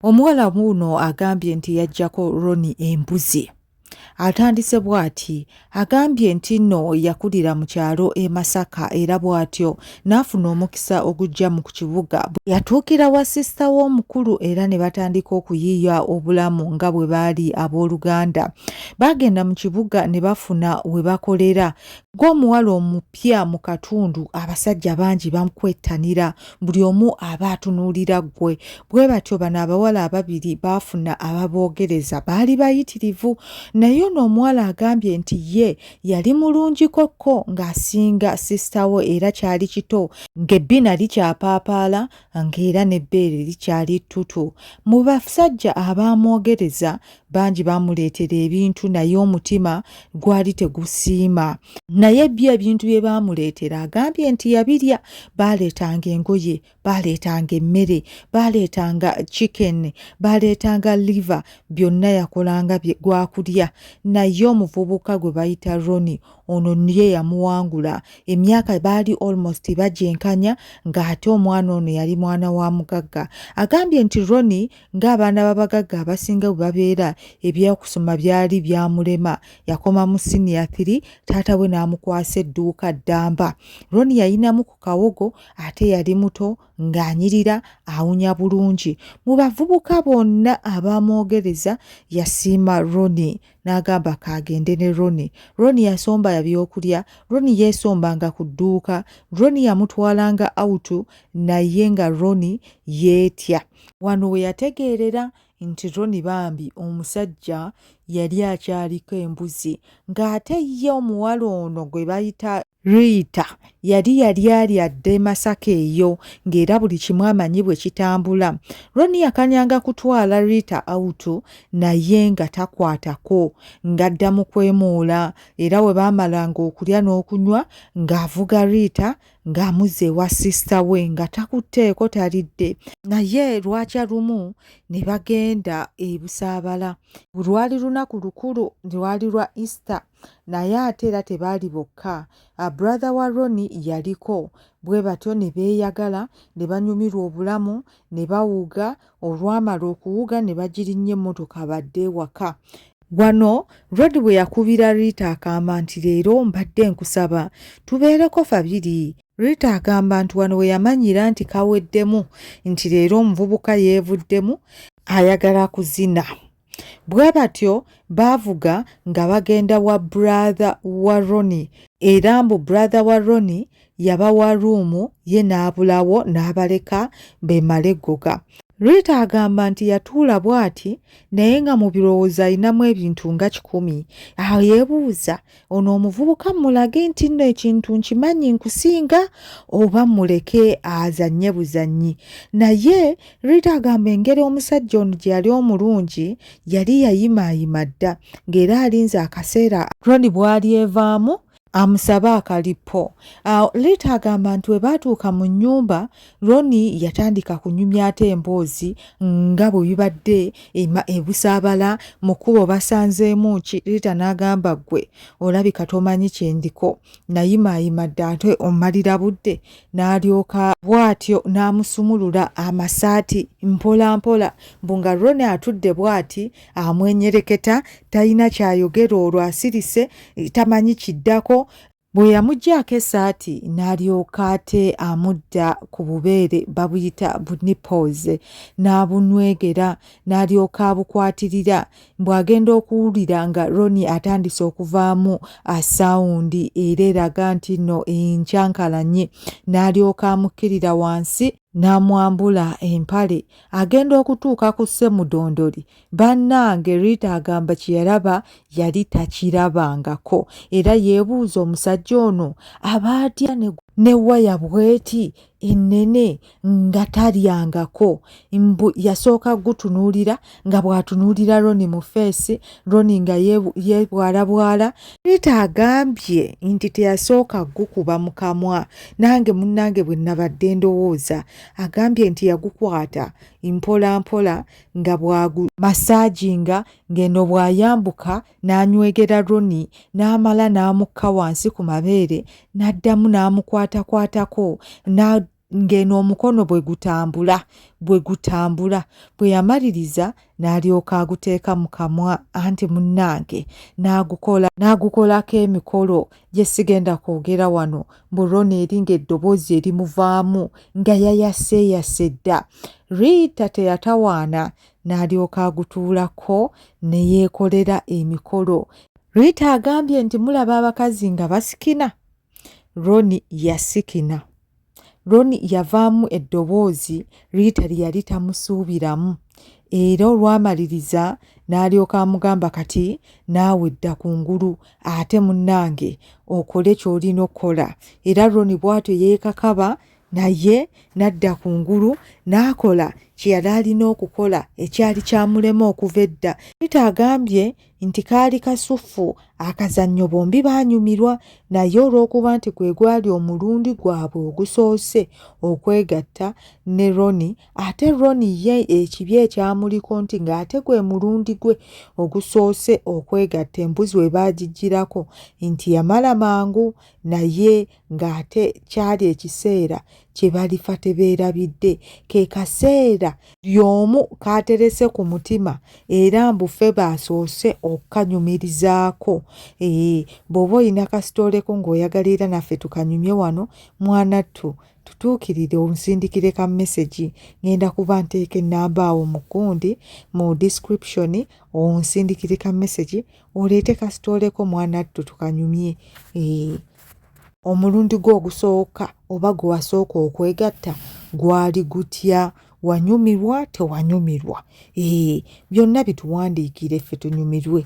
Omuwala wuuno agambye nti yajjako Roni embuzi. Atandise bw'ati agambye nti nno yakulira mu kyalo e Masaka era bw'atyo n'afuna omukisa ogujja mu ku kibuga. Yatuukira wa sisita w'omukulu era ne batandika okuyiiya obulamu nga bwe baali abooluganda. Baagenda mu kibuga ne bafuna we bakolera. Ng'omuwala omupya mu katundu abasajja bangi bamukwettanira buli omu aba atunuulira ggwe bwe batyo bano abawala ababiri baafuna ababoogereza baali bayitirivu naye ono omuwala agambye nti ye yali mulungikokko ng'asinga sisitawo era kyali kito ng'ebbina likyapaapaala ng'era n'ebbeere likyali ttutu mu basajja abaamwogereza bangi baamuleetera ebintu naye omutima gwali tegusiima naye byo ebintu bye baamuleetera agambye nti yabirya baaleetanga engoye baaleetanga emmere baaleetanga chicken baaleetanga liva byonna yakolanga gwakulya naye omuvubuka gwe bayita roni ono niye yamuwangula emyaka baali almost bagyenkanya ng'ate omwana ono yali mwana wa mugagga agambye nti roni ng'abaana b'abagagga abasinga bwe babeera ebyokusoma byali byamulema yakomamu siniya thiri taata we n'amukwasa edduuka ddamba roni yayinamu ku kawogo ate yali muto ng'anyirira awunya bulungi mu bavubuka bonna abaamwogereza yasiima roni n'agamba kaagende ne roni roni yasomba yabyokulya roni yeesombanga ku dduuka roni yamutwalanga awutu naye nga roni yeetya Wano we yategeerera nti Ronnie bambi omusajja yali akyaliko embuzi ng'ate ye omuwala ono gwe bayita Rita yali yali ali adda e Masaka eyo ng'era buli kimu amanyi bwe kitambula. Ronnie yakanyanga kutwala Rita awutu naye nga takwatako ng'adda mu kwemuula era we baamalanga okulya n'okunywa ng'avuga Rita ng'amuzze ewa sisita we nga takutteeko talidde naye lwakya lumu ne bagenda e busaabala lwali lunaku lukulu lwali lwa easter naye ate era tebaali bokka ah, brother wa roni yaliko bwe batyo ne beeyagala ne banyumirwa obulamu ne bawuga Olwamala okuwuga ne bagirinnya emmotoka badde ewaka. Wano Rod bwe yakubira Rita akamba nti leero mbadde nkusaba tubeereko fabiri Rita agamba nti wano we yamanyira nti kaweddemu nti leero omuvubuka yeevuddemu ayagala kuzina. Bwe batyo baavuga nga bagenda wa bradha wa Roni era mbu bradha wa Roni yabawa ruumu ye n'abulawo n'abaleka beemale ggoga. Rita agamba nti yatuula bw'ati naye nga mu birowoozo alinamu ebintu nga kikumi. Awo yeebuuza ono omuvubuka mulage nti nno ekintu nkimanyi nkusinga oba muleke azanye buzanyi naye rita agamba engeri omusajja ono gye yali omulungi yali yayimaayima dda ng'era alinze akaseera roni bwali evaamu amusabe akalipo awo liita agamba nti we baatuuka mu nnyumba Ronnie yatandika kunyumya ate emboozi nga bwe bibadde ebusaabala mu kkubo basanzeemu ki Rita n'agamba ggwe olabika tomanyi kye ndiko nayimaayima dda ate ommalira budde n'alyoka bw'atyo n'amusumulula amasaati mpola mpola mbu nga Ronnie atudde bw'ati amwenyereketa talina ky'ayogera olwo asirise tamanyi kiddako bwe yamugyako esaati n'alyoka ate amudda ku bubeere babuyita bunipooze n'abunwegera n'alyoka abukwatirira bw'agenda okuwulira nga roni atandise okuvaamu asawundi era eraga nti no enkyankalanye n'alyoka amukkirira wansi n'amwambula empale agenda okutuuka ku ssemudondoli bannange rita agamba kyeyalaba yali takirabangako era yeebuuza omusajja ono aba atya ne waya bweti ennene nga talyangako mbu yasooka gutunuulira nga bw'atunuulira roni mu feesi roni nga yebwalabwala rita agambye nti teyasooka gukuba mu kamwa nange munnange bwe nabadde ndowooza agambye nti yagukwata mpola mpola nga bwagu masaaginga ng'eno bw'ayambuka n'anywegera Ronnie n'amala n'amukka wansi ku mabeere n'addamu n'amukwatakwatako ng'eno omukono bwe gutambula bwe gutambula bwe yamaliriza n'alyoka aguteeka mu kamwa anti munnange n'agukola n'agukolako emikolo gye sigenda kwogera wano mbu rona eri ng'eddoboozi erimuvaamu nga yayaseeyase dda riita teyatawaana n'alyoka agutuulako ne yeekolera emikolo riita agambye nti mulaba abakazi nga basikina roni yasikina roni yavaamu eddoboozi riita lye yali tamusuubiramu era olwamaliriza n'alyoka amugamba kati naawe dda ku ngulu ate munnange okole ky'olina okukola era roni bwatyo yeekakaba naye n'adda ku ngulu n'akola kye yali alina okukola ekyali kyamulema okuva edda nita agambye nti kaali kasuffu akazannyo bombi baanyumirwa naye olw'okuba nti gwe gwali omulundi gwabwe ogusoose okwegatta ne roni ate Ronnie ye ekibi ekyamuliko nti ng'ate gwe mulundi gwe ogusoose okwegatta embuzi we baagiggyirako nti yamala mangu naye ng'ate kyali ekiseera kye balifa tebeerabidde ke kaseera y'omu kaaterese ku mutima era mbufe baasoose okukanyumirizaako ee eh, bw'oba olina kasitooleko ng'oyagala era naffe tukanyumye wano mwanattu tutuukirire onsindikire ka message ngenda kuba nteeka ennamba awo mukundi mu description onsindikire ka message oleete kasitooleko mwana ttu tukanyumye eh, omulundi gwo ogusooka oba gwe wasooka okwegatta gwali gutya wanyumirwa tewanyumirwa ee eh, byonna bituwandiikire ffe tunyumirwe